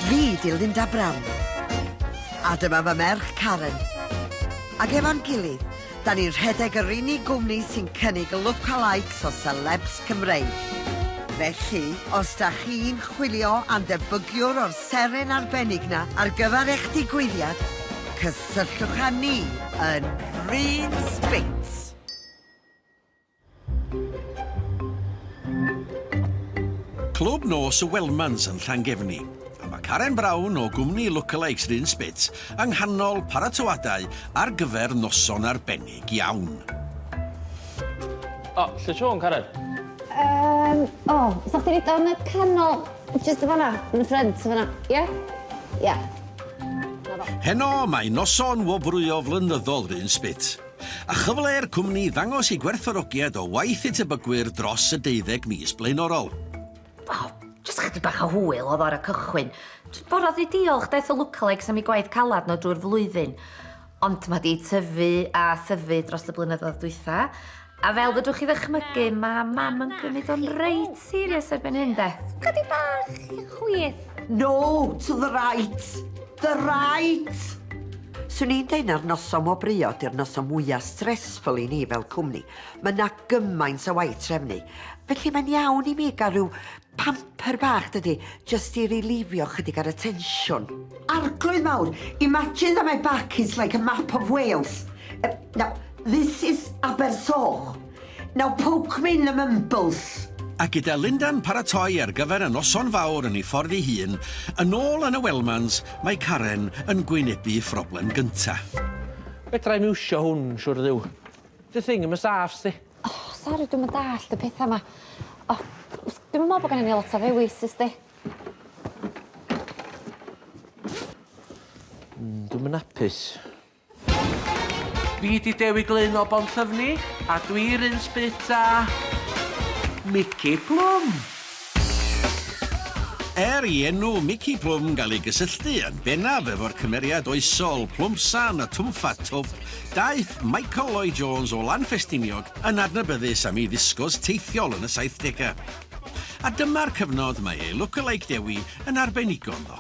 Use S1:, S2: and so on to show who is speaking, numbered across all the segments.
S1: Fi di Linda Brown. A dyma fy merch Karen. Ac efo'n gilydd, da ni'n rhedeg yr unig gwmni sy'n cynnig lookalikes o celebs Cymreig. Felly, os da chi'n chwilio am debygiwr o'r seren arbennig na ar gyfer eich digwyddiad, cysylltwch â ni yn Bryn Spitz.
S2: Clwb nos y Welmans yn Llangefni, a mae Karen Brown o gwmni Lookalikes Run Spit yng nghanol paratoadau ar gyfer noson arbennig iawn.
S3: O, lle Siôn, Karen? Um, o, oh,
S4: sa chdi rhaid yn y canol, just y fanna, yn y ffrent, y fanna, ie? Yeah? Ie. Yeah.
S2: Heno mae noson wobrwyo flynyddol Rhun Spit. a chyfle i'r cwmni ddangos ei gwerthfawrogiad o waith ei tebygwyr dros y deuddeg mis blaenorol. O,
S5: jyst chydig bach o hwyl oedd o'r y cychwyn. Dwi'n borodd i diolch daeth y lwcalegys am ei gwaith calad nhw drwy'r flwyddyn. Ond mae di tyfu a thyfu dros y blynyddoedd dwytha. A fel fydwch chi ddychmygu, mae mam yn cymryd o'n reit serious erbyn hyn de. Chydig bach
S4: chwith. No to
S1: the right! The right! Swn i'n deud na'r noson wobrwyo ydy'r noson mwya stressful i ni fel cwmni. Mae yna gymaint o waith trefnu. Felly mae'n iawn i mi gael rhyw pamper bach dydy, just i rilifio chydig ar y tensiwn. Arglwydd mawr! Imagine that my back is like a map of Wales. Now, this is Abersoch. Now poke me in the mumbles! A gyda
S2: Linda'n paratoi ar gyfer y noson fawr yn ei ffordd ei hun yn ôl yn y Wellmans, mae Karen yn gwynebu phroblem gynta'. Fedra
S3: i'm iwsio hwn, siŵr o Dduw. Dy thing 'im yn saff, sdi. O, sori, dwi'm yn
S4: dallt y petha 'ma. O, s- dwi'm yn me'wl bo' gennyn ni lot o ddewis, is di?
S3: Hmm, dwi'm yn apus. Fi ydi Dewi Glyn o Bonllyfni a dwi yr un sbit a Mici Plwm!
S2: Er i enw Mici Plwm gael ei gysylltu yn bennaf efo'r cymeriad oesol Plwmsan y Twmffat Twp, daeth Michael Lloyd Jones o Lanffestiniog yn adnabyddus am ei ddisgos teithiol yn y saithdegau. A dyma'r cyfnod mae ei look-alike Dewi yn arbenigo ynddo.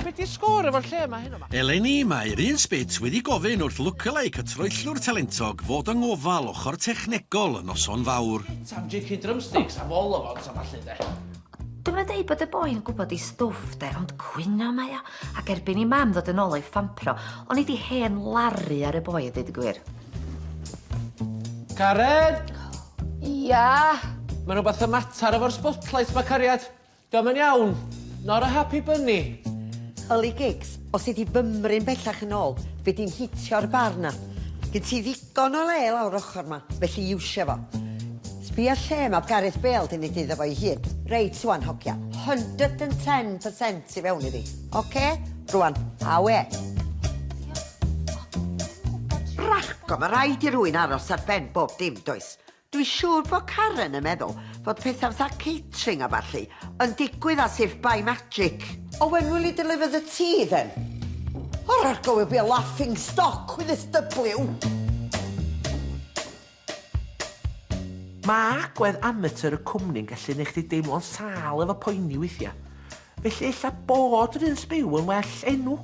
S3: Be di sgôr efo'r lle yma heno ma? Eleni, mae'r un
S2: sbit wedi gofyn wrth lookalike y troellwr talentog fod yng ngofal ochr technegol y noson fawr. Sam jici drumsticks
S3: a vol o fod sa ballu de. Dwi'm yn deud bod
S5: y boi yn gwybod ei stwff de, ond cwyno mae o, ac erbyn i mam ddod yn ôl o'i ffampro, o'n i di hen laru ar y boi a deud y gwir.
S3: Cared! Ia?
S4: Mae rhywbeth
S3: y mater efo'r spotlight ma, cariad. Dio'm yn iawn. Not a happy bunny. Yli gigs,
S1: os ei di fymryn bellach yn ôl, fydd di'n hitio'r bar na. Gen ti ddigon o le lawr ochr ma, felly iwsia fo. Sbia lle ma Gareth Bale di mynd iddo fo ei hun. Reit ŵan hogia, hundred and ten percent i fewn iddi. Ocê? Rŵan, awe. Ragor, ma raid i rwyn aros ar ben bob dim, does? Dwi siŵr fod Karen yn meddwl fod pethau fatha catering a ballu yn digwydd as if by magic. Oh when will you deliver the tea then? Or ur go will be a laughing stock with this W!
S3: Mae agwedd amatur y cwmni'n gallu neu chdi deimlo'n sâl efo poeni weithia. Felly ella bod yr un sbyw yn well enw.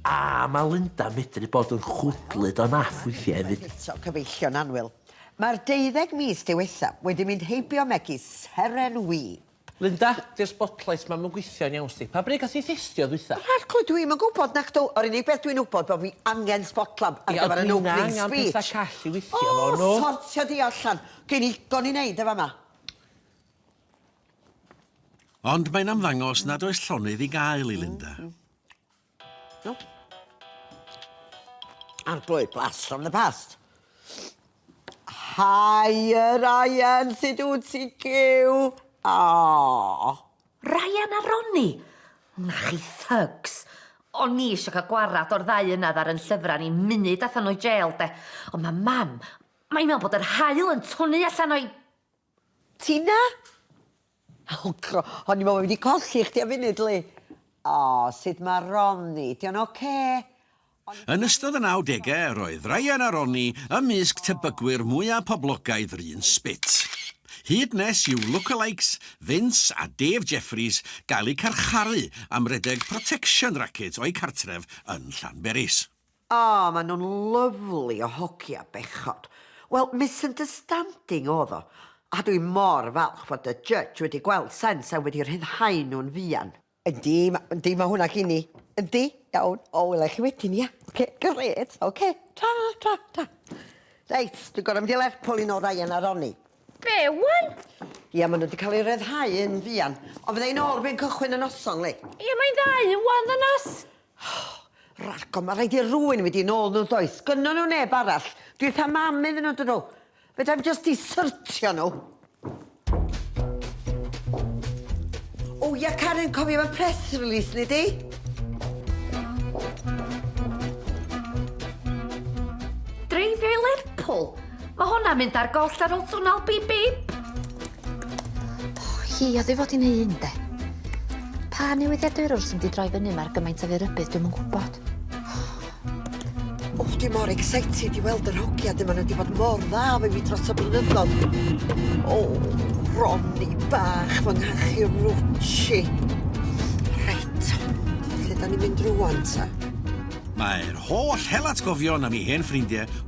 S3: A mae Linda medru bod yn chwdlyd o naff weithia efyd. Eto cyfeillio'n
S1: annwyl. Mae'r deuddeg mis diwethaf wedi mynd heibio megis seren wib. Linda, di'r
S3: spotlight ma 'm yn gwithio yn iawn sti. Pa bryd gath ti thestio ddwytha? Rhagl, dwi'm yn gwbod
S1: nac dw, yr unig beth dwi'n wbod bo fi angen sbotlab ar gyfer yn opening speech. Ia, ond dwi'n angan petha call i withio
S3: fo nhw. O, sortio di allan.
S1: Gin i ddigon i neud yn fama.
S2: Ond mae'n ymddangos nad oes llonydd i gael i Linda.
S1: No. Aren't blue blast from the past. Hiya, Ryan, sut wyt ti, Gyw? Oh.
S5: Ryan a Ronnie? Na chi thugs. O'n ni eisiau cael gwarad o'r ddau yna ddar yn llyfrau ni munud allan o'i jail, de. Ond mae mam, mae'n meddwl bod yr hael yn twnu allan o'i...
S1: Ti 'na? O cro, o'n i me'wl bo' fi 'di colli chdi am funud Lee. O, sud ma' Ronnie? 'Di o'n ocê? Yn
S2: ystod y nawdegau yr oedd Ryan a Ronnie ymysg tebygwyr mwya' poblogaidd yr un sbit. Hyd nes i'w look-a-likes Vince a Dave Jeffries gael eu carcharu am redeg protection racket o'u cartref yn Llanberis. O, maen
S1: nhw'n lyfli o hogia bechod. Wel, misunderstanding oedd o. A dwi mor falch fod y judge wedi gweld sens a wedi rhyddhau nhw'n fuan. Yndi, yndi, mae hwnna gin i. Yndi, iawn. O, wela i chi wedyn, ia? Oce, grêt, oce. Ta, ta, ta. Reit, dwi'n gorfod mynd i Lerpwl i nôl Ryan a Ronnie. Be, ŵan?
S5: Ia, maen nhw wedi
S1: cael eu rhyddhau yn fuan. Ond fydda i nôl erbyn cychwyn y noson, Lee. Ia, mae'n ddau
S5: ŵan, ddynas.
S1: Ragor, ma' rhaid i rywun mynd i'n ôl nhw does? Gynnon nhw neb arall. Dwi wrth 'y mam iddyn nhw dyn nhw. Fedrai'm jyst disyrtio nhw. O ia Karen, cofio efo'r press release ni di?
S5: Dreifio i Lerpwl? Mae hwnna'n mynd ar goll ar ôl twnnel bip bip. O,
S4: hi oedd ei fod i'n ei un, de. Pa newyddiadurwr sy'n di droi fyny mae'r gymaint o fyrybydd dwi'n yn gwybod.
S1: O, dwi mor excited i weld yr hogia dyma nhw wedi bod mor dda fe mi dros y blynyddoedd. O, Ronny bach fy nghachu rwtsi. Reit, lle da ni'n mynd rwan ta? Mae'r
S2: holl helatgofion am ei hen ffrindiau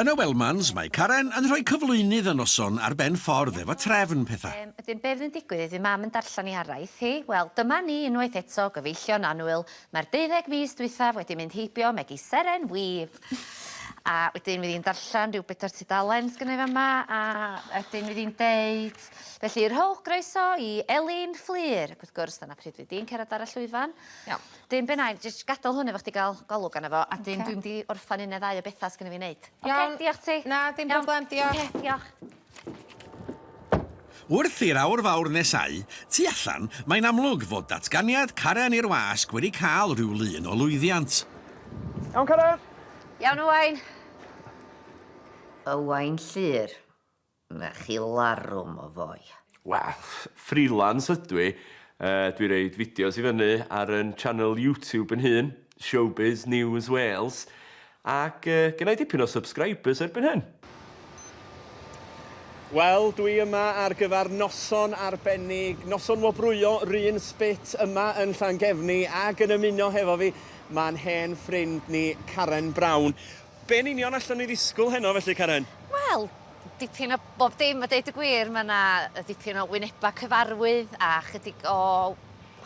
S2: Yn y Wellmans, mae Karen yn rhoi cyflwynydd y noson ar ben ffordd efo trefn pethau. Yym, wedyn be' fydd yn digwydd iddi
S4: mam yn darllen 'i araith hi? Wel, dyma ni unwaith eto, gyfeillio'n annwyl. Mae'r deuddeg mis dwythaf wedi mynd heibio megis seren wib! A wedyn fydd 'i'n darllen rhyw bedwar tudalen sgynna i fa' 'ma, a wedyn fydd 'i'n deud, Felly, rhowch groeso i Elin Fflur! Ac wrth gwrs, dyna pryd fydd di'n cerddad ar y llwyfan. Iawn. 'Dyn be' 'nai jyst gadal hwn efo chdi ga'l golwg arno fo a 'dyn dwi mynd i orffan un ne' ddau o betha sy gynno fi neud. Iawn. Oce diolch ti. Na
S6: dim
S4: problem diolch.
S6: Oce diolch.
S2: Wrth i'r aur fawr nesáu tu allan, mae'n amlwg fod datganiad Caren i'r Wasg wedi cael rhyw lun o lwyddiant. Iawn
S7: Caren? Iawn Owain.
S5: Owain Llŷr. Mae chi larwm o foi. Wel,
S7: freelance ydw i. Yy, dwi'n roid fideos i fyny ar 'yn channel YouTube yn hun, Showbiz News Wales, ac yy, gennai dipyn o subscribers erbyn hyn. Wel, dwi yma ar gyfer noson arbennig, noson wobrwyo 'run spit yma yn Llangefni, ac yn ymuno hefo fi, ma'n hen ffrind ni, Karen Brown. Be yn union allwn ni ddisgwyl heno felly, Karen? Wel,
S4: dipyn o bob dim a deud y gwir. Mae yna dipyn o wynebau cyfarwydd a chydig o...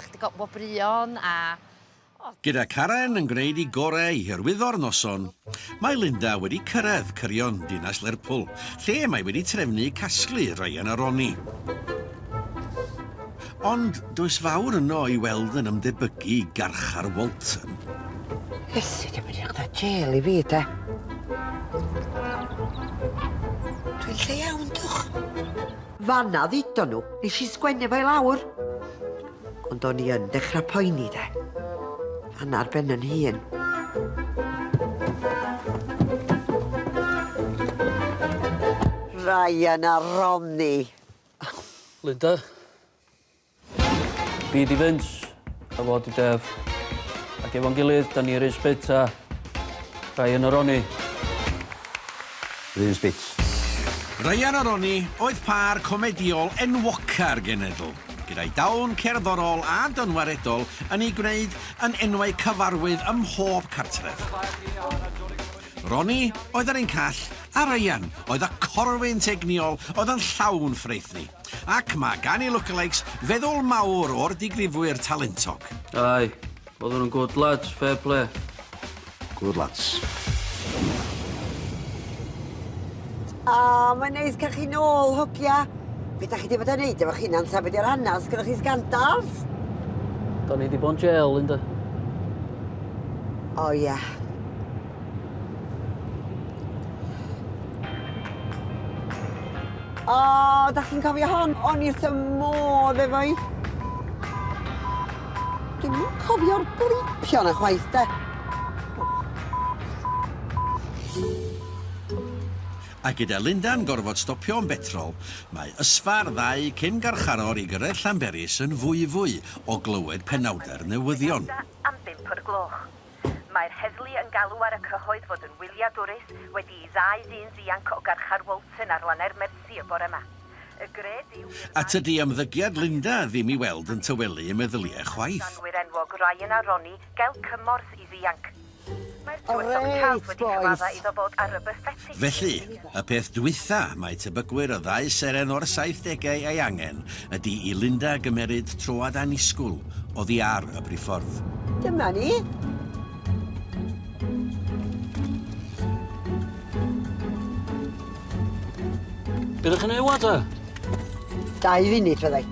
S4: chydig o wobrwyon a... o. Gyda
S2: Karen yn gwneud ei gorau i hyrwyddo'r noson, mae Linda wedi cyrraedd cyrion dinas Lerpwl, lle mae wedi trefnu casglu Ryan a Ronnie. Ond does fawr yno i weld yn ymdebygu i garchar Walton. Iesu,
S1: dim edrych da jêl i fi, de. Dwi'n lle iawn, dwch. Fanna ddido nhw, nes i sgwennu fo i lawr. Ond o'n i yn dechrau poeni, de. Fanna'r ben yn hun. Ryan a Ronnie.
S8: Linda. Fi di Vince, a fo di Dev. Ac efo'n gilydd, da ni Riz Bits a Ryan a Ronnie. Riz Bits.
S2: Ryan a Ronnie oedd pâr comedïol enwoca'r genedl, gyda'i dawn cerddorol a dynwaredol yn eu gwneud yn enwau cyfarwydd ym mhob cartref. Ronnie oedd yr un call, a Ryan oedd y corwyn teg niol oedd yn llawn ffraethni. Ac mae gan ei lookalikes feddwl mawr o'r digrifwyr talentog. Aye,
S8: oedden nhw'n good lads, fair play. Good
S9: lads.
S1: O, mae'n neis cael chi nôl, hogia. Be da chi wedi bod yn neud efo chi'n hunan tra be di'r hanes? Gyda chi sgandals?
S8: Da ni wedi bod yn jail, Linda. O, ie.
S1: Yeah. O, oh, da chi'n cofio hon? O'n i wrth y modd efo i. Dwi'n mwyn cofio'r blipio na chwaith, de.
S2: A gyda Linda'n gorfod stopio yn betrol, mae ysfa'r ddau cyn garcharor i gyrraedd Llanberis yn fwyfwy o glywed penawdau'r newyddion. Am bump o'r
S6: gloch. Mae'r heddlu yn galw ar y cyhoedd fod yn wyliadwrus wedi i ddau ddyn ddianc o garchar Walton ar lannau'r Mersey y bore yma. Y gred yw i'r A ddau... tydi ymddygiad
S2: Linda ddim i weld yn tawelu y meddyliau chwaith. Gŵr enwog Ryan
S6: a Ronnie gael cymorth i ddianc. Mae'r tywysog Chas wedi cyfadda
S1: iddo
S6: fod â
S1: rubber
S6: fetish. Felly, Y peth
S2: dwytha mae tebygwyr y ddau seren o'r saithdegau ei angen ydi i Linda gymeryd troad annisgwl oddi ar y briffordd. Dyma ni.
S8: Be ddech chi'n ei wad e? Dau
S1: funud fyddai.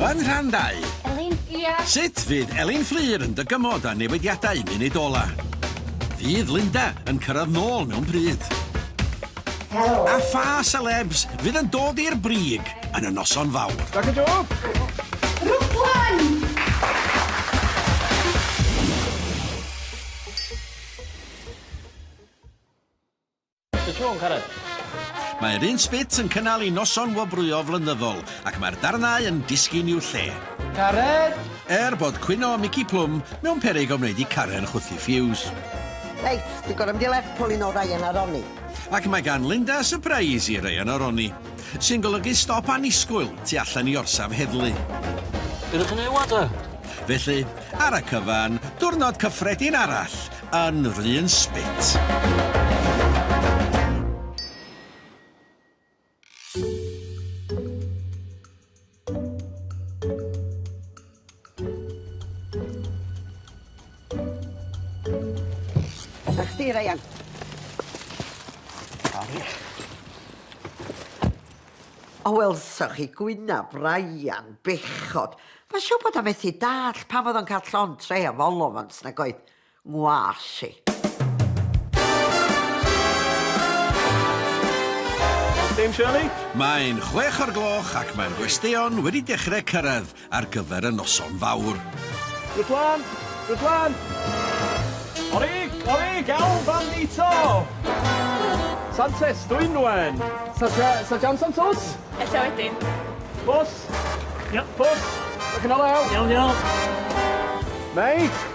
S2: Yn rhan dau... Elin? Ia?
S4: Sut fydd Elin
S2: Fflur yn dygymod â newidiadau munud ola? Fydd Linda yn cyrraedd nôl mewn pryd? Helo!
S5: A pha
S2: selebs fydd yn dod i'r brig yn y noson fawr? Dag y Job!
S7: Rwglan!
S8: Sut ti'n Cared? Mae'r un
S2: sbit yn cynnal i noson wobrwyo flynyddol ac mae'r darnau yn disgyn i'w lle. Cared!
S7: Er bod cwyno
S2: Mici Plwm mewn peryg o wneud i Karen chwythu ffiws. Reit, dwi'n
S1: gorau mynd i Lerpwl i nôl Ryan a Ronnie. Ac mae gan Linda
S2: sypreis i Ryan a Ronnie, sy'n golygu stop annisgwyl tu allan i orsaf heddlu. Be ydych
S8: chi'n ei wad e? Felly,
S2: ar y cyfan, diwrnod cyffredin arall yn yr un spit.
S1: chdi, Ryan. Sori. O, welsoch chi gwynaf, Ryan, bechod. Mae siw bod o methu dall pam oedd o'n cael llon tre o folof ond nag oedd. ngwallt i.
S7: Dame Shirley? Mae'n chwech
S2: o'r gloch ac mae'r gwesteion wedi dechrau cyrraedd ar gyfer y noson fawr. Rydwan!
S7: Rydwan! Orig! Orig! Elf Bandito! Santes, Dwynwen! Saja, Sajan Santos? Ella wedyn.
S10: Pws!
S7: Yep.
S10: Pws! Ydych
S7: chi'n olew? Iawn, iawn.
S10: Mei!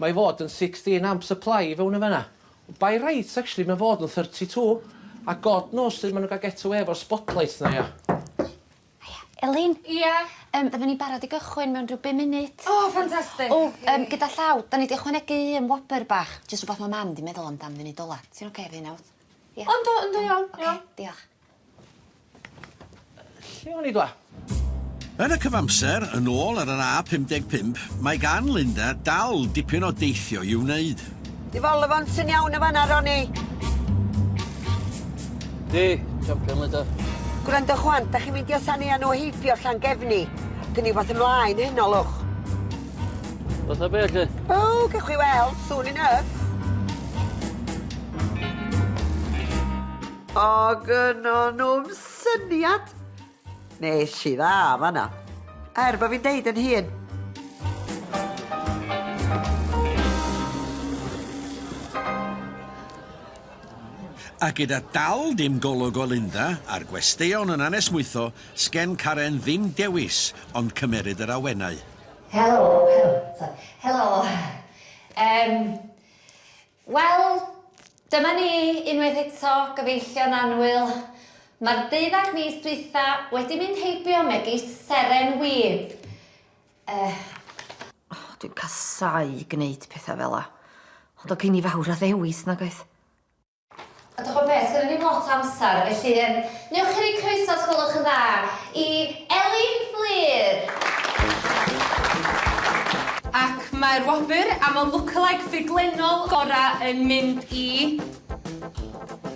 S3: Mae i fod yn 16 amp supply i fewn yn fanna. By right actually mae fod yn 32 a God knows sud ma' nw'n ga'l get away efo'r spot lights 'na ia?
S4: Elin? Ia?
S10: Yym fydden ni barod i
S4: gychwyn mewn ryw bum munud. O fantastic. O
S10: yym gyda
S4: llaw 'dan ni 'di ychwanegu un wobr bach jyst rwbath ma' mam 'di meddwl amdan funud ola. Ti'n oce efo hynna wyt? Ia? O yndw yndw iawn iawn.
S10: Oce diolch.
S3: Lle o'n i dwa? Yn y
S2: cyfamser, yn ôl ar yr A55, mae gan Linda dal dipyn o deithio i'w wneud. Di folofont
S1: yn iawn yn fanna, Ronnie?
S8: Di, champion Linda. Gwrando chwan,
S1: da chi'n meindio san ea nhw heibio Llangefni? Gyn i fath ymlaen heno, lwch.
S8: Fatha be, lle? O, gewch chi
S1: weld, soon enough. O gynno nhw'm syniad! Nes i dda fanna. Er bod fi'n deud yn hun,
S2: A gyda dal dim golwg o Linda a'r gwesteion yn anesmwytho, sgen Karen ddim dewis ond cymeryd yr awenau. Helo,
S5: helo, sori, helo.
S4: Yym. Wel, dyma ni unwaith eto, gyfeillion annwyl. Mae'r deuddag mis dwytha wedi mynd heibio megis seren wib.
S5: Yy. Oh,
S4: dwi'n
S5: casau gneud petha fela. Ond o gei ni fawr o ddewis, nag oes?
S4: A dych ch'mod be, sgenna ni'm lot o amser, felly yym newch chi roi croeso, os gwelwch yn dda, i Elin Fflur!
S10: Ac mae'r wobr am y lookalike ffuglenol gorau yn mynd i...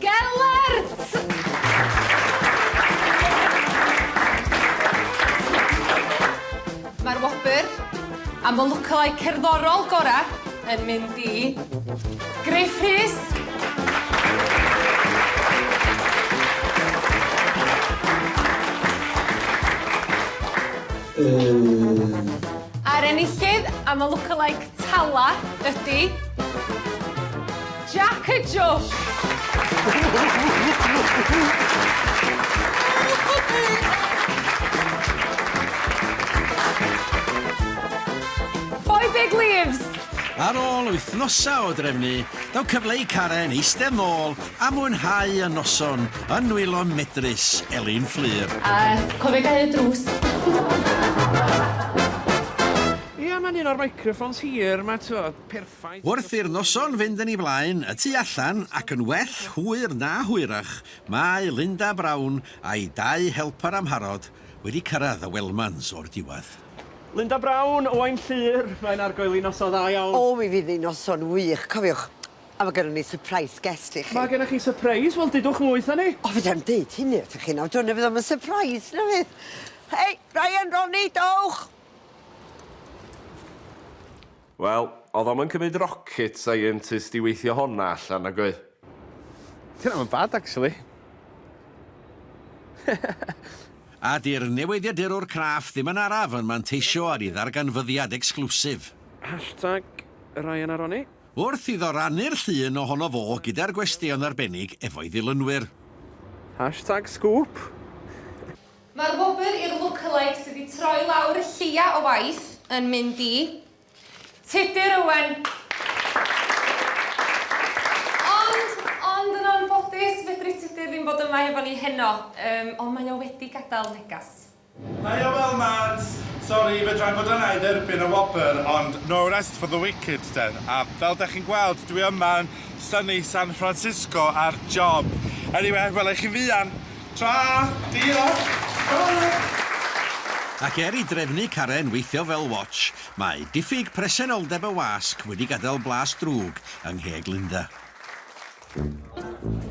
S10: Gelert! Mae'r wobr am y lwcylau cerddorol gorau yn mynd i Griff Rhys. A'r enillydd am y lwcylau Tala ydi... Jac y Jôc! Four big leaves! Ar ôl
S2: wythnosau o drefnu, daw cyfle i Karen eistedd nôl a mwynhau y noson yn nwylo medrus Elin Fflur. A cofio
S10: gau y drws.
S7: Ia mae'n un o'r microphones hir 'ma t'wod, perffaith. Wrth i'r noson
S2: fynd yn ei flaen, y tu allan, ac yn well hwyr na hwyrach, mae Linda Brown a'i dau helper amharod wedi cyrraedd y Wellmans o'r diwedd. Linda Brown,
S7: Owain Llŷr, mae'n argoel i noson dda iawn. O mi fydd hi'n noson
S1: wych, cofiwch, a mae gennon ni surprise guest i chi. Mae gennoch chi surprise?
S7: Wel dudwch mwy 'tha ni. O fedrai'm deud hynny
S1: wrthoch chi nawr, dyna fydd o'm yn surprise na fydd. Hei, Ryan, Ronnie, dowch!
S11: Wel, oedd o'm yn cymryd rocket scientist i weithio honna allan, nag oedd? Ti ddim
S7: yn bad, actually.
S2: A 'di'r newyddiadurwr craff ddim yn araf yn manteisio ar 'i ddarganfyddiad ecsclwsif. Hashtag
S7: Ryan a Ronnie. Wrth iddo
S2: rannu'r llun ohono fo gyda'r gwesteion arbennig efo'i ddilynwyr. Hashtag
S7: Sgŵp!
S10: Mae'r wobr i'r lookalike sydd wedi troi lawr y lleia o waith yn mynd i Tudur Owen! Ond, ond yn anffodus, fedri Tudur ddim bod yma hefo ni heno, yym, ond mae o wedi gadael negas. Haia
S12: Welmant! Sori, fedra i fod yna i dderbyn y wobr, ond no rest for the wicked den, a fel dach chi'n gweld dwi yma yn sunny San Francisco ar job. Eniwe, wela i chi'n fuan! Tra! Diolch! Tara!
S2: Ac er i drefnu Karen weithio fel watch, mae diffyg presenoldeb y wasg wedi gadael blas drwg yng ngheg Linda.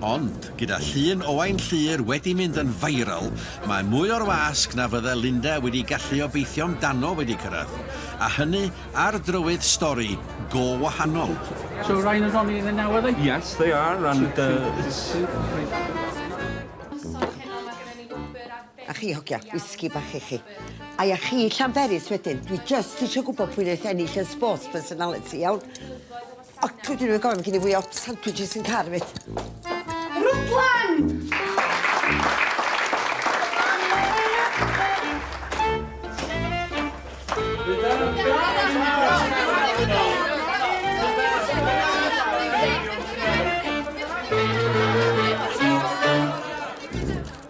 S2: Ond, gyda llun Owain Llyr wedi mynd yn viral, mae mwy o'r wasg na fydde Linda wedi gallu obeithio amdano wedi cyrraedd, a hynny Ar drywydd stori go wahanol. So Ryan and
S8: Ronnie are they now are they? Yes they are and
S1: A chi hogia, whisky bach i chi. Ai a chi Llanberis wedyn, dwi jyst isio gwbod pwy neith ennill yn sports personality iawn? O, dwi ddim yn gofio, mae gen i fwy o sandwiches yn car fi. Rwdlan!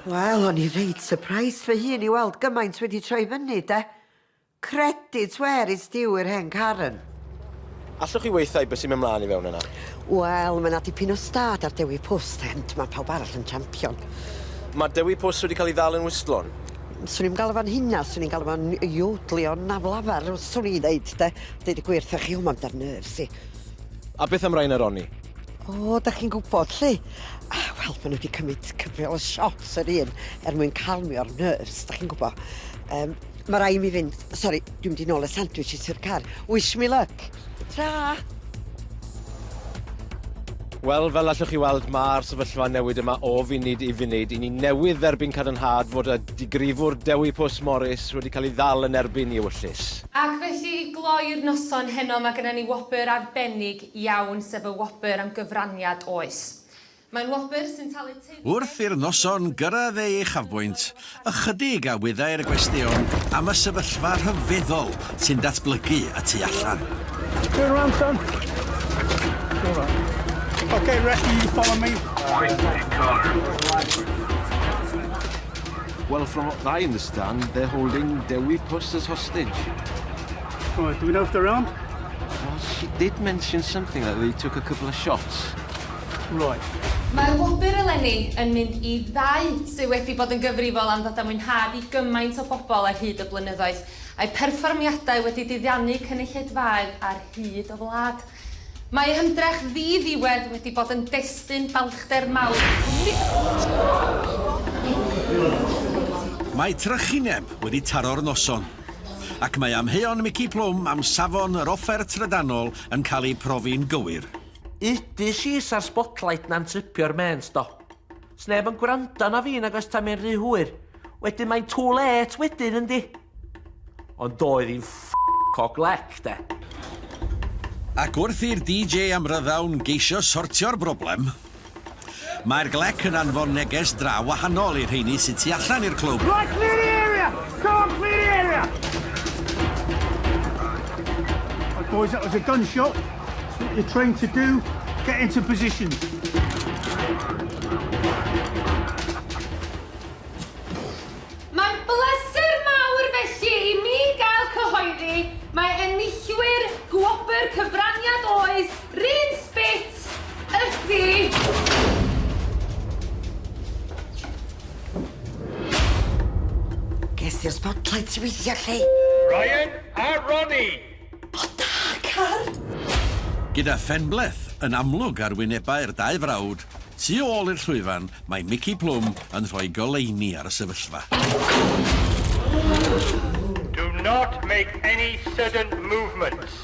S1: Wel, o'n i reit surprised fy hun i weld gymaint wedi troi fyny, 'de? Credit where it's due i'r hen Karen. Allwch
S13: chi weithau beth sy'n mynd mlaen i fewn yna? Wel, mae yna
S1: dipyn o stad ar Dewi Pwst, ond mae pawb arall yn champion. Mae Dewi
S13: Pwst wedi cael ei ddal yn wystlon? Swn i'm galw
S1: fo'n hynna, swn i'n galw fo'n iwdlio'n aflafar, swn i'n ddeud, 'de. Deud y gwir 'tha chi, o, mae'n dar nerves i. A beth am
S13: Ryan a Ronnie? O, da chi'n
S1: gwybod, 'lly? Ah, wel, maen nhw wedi cymryd cyfrol o shots yr un er mwyn calmio'r nerves, da chi'n gwybod. Yym. Ma rai' mi fynd. Sori, dwi'n mynd i nôl y sandwich i ty'r car. Wish me luck. Tra!
S13: Wel, fel allwch chi weld, mae'r sefyllfa newid yma o funud i funud. I ni newydd dderbyn cadarnhad fod y digrifwr Dewi Pws Morris wedi cael ei ddal yn erbyn i ewyllys. Ac felly, i
S10: gloi'r noson heno, mae gennym ni wobr arbennig iawn, sef y wobr am gyfraniad oes. Mae'n wobr sy'n talu teyrnged... Wrth i'r noson
S2: gyrraedd ei uchafbwynt, ychydig a wyddai'r gwestion am y sefyllfa rhyfeddol sy'n datblygu y tu allan. Turn around, son.
S12: Turn around. Okay, rescue, you follow me.
S9: Well, from what I understand, they're holding Dewi Puss
S12: as
S9: hostage.
S12: Right, do we know if they're
S9: armed? Well,
S12: she did
S9: mention something that they took a couple of shots.
S12: Roy. Mae wobr
S10: eleni yn mynd i ddau sydd wedi bod yn gyfrifol am ddod â mwynhad i gymaint o bobl ar hyd y blynyddoedd, a'u perfformiadau wedi diddianu cynulleidfaoedd ar hyd y wlad. Mae eu hymdrech ddi-ddiwedd wedi bod yn destun balchder mawr i'r cwmni.
S2: Mae trychineb wedi taro'r noson, ac mae amheuon Mici Plwm am safon yr offer trydanol yn cael eu profi'n gywir. Ydy She's
S3: a'r Spotlight 'na'n tripio'r mêns do? Sneb yn gwrando na fi nag oes tan mae'n rhy hwyr. Wedyn mae'n too late wedyn yndi? Ond doedd hi'n ff*** o glec de.
S2: Ac wrth i'r DJ amryddawn geisio sortio'r broblem, Mae'r glec yn anfon neges draw wahanol i'r rheini sydd tu allan i'r clwb. Right, clear the area!
S14: Come on, clear the area! Right, boys, that was a gun shot. That's what you're trained to do. Get into positions.
S10: Mae'n bleser mawr felly i mi gael cyhoeddi mae enillwyr Gwobr Cyfraniad Oes, Rhun Spit, Ydi!
S1: Ges ti'r spotlight ti weithio lle? Ryan
S14: a Ronnie! O da,
S1: car!
S2: Gyda phenbleth yn amlwg ar wynebau'r dau frawd, tu ôl i'r llwyfan mae Mici Plwm yn rhoi goleuni ar y sefyllfa.
S14: Do not make any sudden movements.